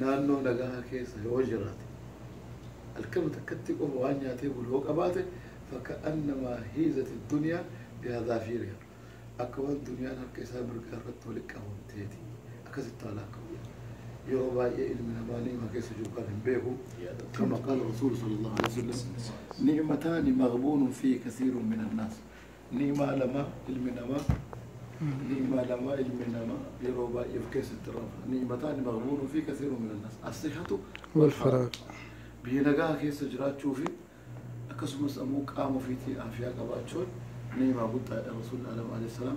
Naannoo nagahaa keessa yoo jiraate, alkama takkattii qofa waan nyaatee bulu yoo qabaate, faka'annamaa hiizati dunyaa bihazaafirihaa, akka waan duniyaan harka isaa mirgaa irratti walitti qabamteeti. Akkasitti haa laakkawu jedhan. Yeroo baay'ee ilmi namaa ni'ima keessa jiru kana hin beeku. Kama qaala Rasuulu sallallaahu aleyhi wa sallam, Ni'mataani maghbuunun fiihi kathiirun minannaas. Ni'imaa lama ilmi namaa Ni'imaa lama ilmi namaa yeroo baay'ee of keessatti rama. Ni'imataani maghbuunun fi kathiirun min annaas. As-sihhatu wal faraag. Biyya nagaa keessa jiraachuu fi akkasumas ammoo qaama ofiitii aafiyaa qabaachuun ni'imaa guddaadha. Rasuulli Alam alayhi salaam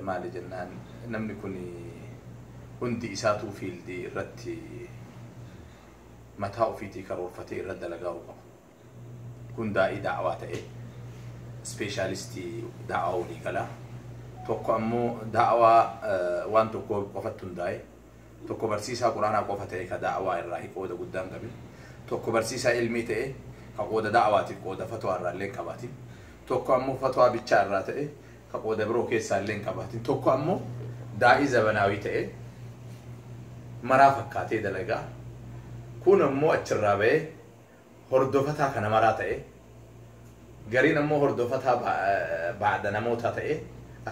Maali jennaan namni kun hundi isaatuu fiildii irratti mataa ofiitii karoorfatee irra dalagaa'uu qaba. Kun daa'ii da'awaa ta'ee ispeeshaalistii da'awaa walii galaa tokko ammoo da'awaa waan tokkoo qofatti hundaa'e tokko barsiisaa quraanaa qofa ta'e ka da'awaa irraa qooda guddaa hin qabin tokko barsiisaa ilmii ta'e ka qooda da'awaatiif qooda fatwaa irraa illee hin qabaatin tokko ammoo fatwaa bichaa irraa ta'e ka qooda biroo keessaa illee hin qabaatin tokko ammo daa'ii zabanaawii ta'ee maraa fakkaatee dalagaa kuun ammoo achirraa ba'ee hordofataa kana maraa ta'ee gariin ammoo hordofataa ba- eh, baada namootaa ta'ee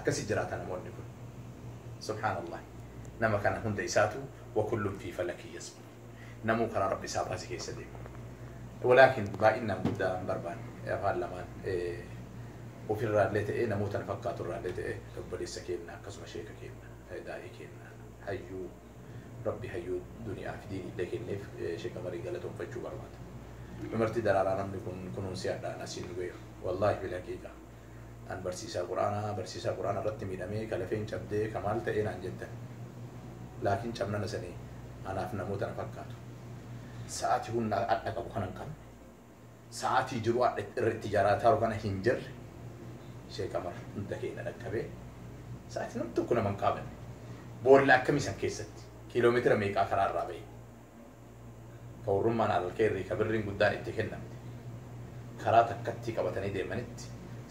akkasi jiraata namoonni kun subhaanallah nama kana hunda isaatu wa kullun fi falakii yasbu Namuu karaa Rabbi isaa baase keessa deema. Walaakin baay'innaan guddaa hin barbaannu. Afaan lamaan ofirraallee ta'ee namoota nu fakkaaturraallee ta'ee obboleessa keenna akkasuma sheeka keenna, daa'ii keenna, hayyuu Rabbi hayyuu duniyaa fi diiniillee kenneef Sheeka Marii galatoomfachuu barbaada. Dumartii daraaraa namni kun kunuunsee hadhaan asiin nu gaheef. Wallaahi fil haqiiqa. An barsiisaa Qur'aanaa, barsiisaa Qur'aana irratti miidhamee, ka lafeen cabdee, ka maal ta'ee naan jettan. Laakiin cabnana sanii anaaf namoota na fakkaatu. Sa'aatii humna adha qabu kana hin qabne. Sa'aatii jiruu adha irra itti jaraataaru kana hin jirre. Sheek Amar hunda keenna dhaqqabee, sa'aatii nam tokko nama hin qaabanne. Boolla akkamii san keessatti? Kiiloomeetira meeqaa karaa irraa ba'e? Gawrummaan Al-Keeyrii ka birriin guddaan itti kennamte karaa takkattii qabatanii deemanitti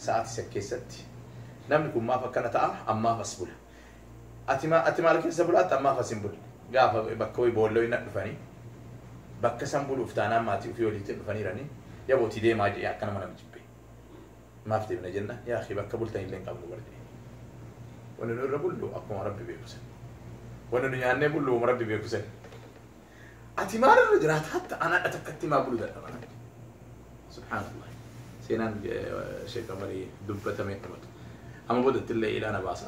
sa'aatii san keessatti namni kun maaf akkana ta'a ammaaf as bula ati ma ati maal keessa bulaatta ammaaf as hin bulle gaafa bakka wayii boolla wayii nadhufanii bakka san buluuf taanaan maatii ofii waliitiin dhufaniiranii yaboo ti deemaa jedhee akka nama nama jibbee maaf deemna jenna yaa akhi bakka bultan illee hin qabnu bar jedhe wanni nu irra bullu akkuma rabbi beeku san wanni nu nyaannee bullu wama rabbi beeku san ati maal irra jiraata hatta an hadha takkatti maa bulu dadhaba rabbi subhaanallah seenaan sheekh amarii dubbatamee dhumatu amma boodatti illee ilaana baasa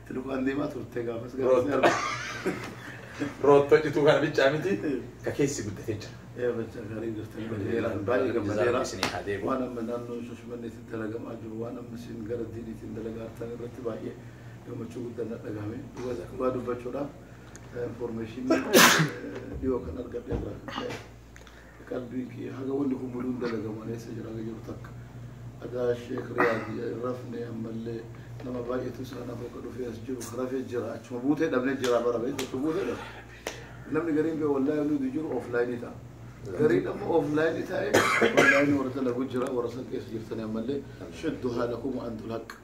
Itti lukaan deemaa turte gaafas gaafas Root- arga. Rootto cituu kana bichaa miti ka keessi guddatee jira. Ee bachaa gaarii jirtan badeera baay'ee gammadeera. Isinii haa deebi'u. Waan amma naannoo Shashimanneetiin dalagamaa jiru waan amma isin gara diiniitiin dalagaa jirtan irratti baay'ee gammachuu guddaa na dhagahame. Dhugaa isa dhugaa dubbachuudhaaf infoormeeshinii dhiyoo kan argadhe irraa kan ka'e. Qalbii kiyya haga wanni kun muduun dalagamu ani eessa jira haga jedhu takka dhagaa sheek riyaad rafne ammallee nama baay'eetu isaan hafa ka dhufee as jiru ka rafee jira achuma buutee dhabne jira bara beektu achuma buutee dhabne namni gariin bee wallaahi nuti jiru ooflaayinii ta'a. Gariin amma ooflaayinii taa'ee wallaahi warra dalagu jira warra san keessa jirtanii ammallee shaddu haalakum antul haqqa.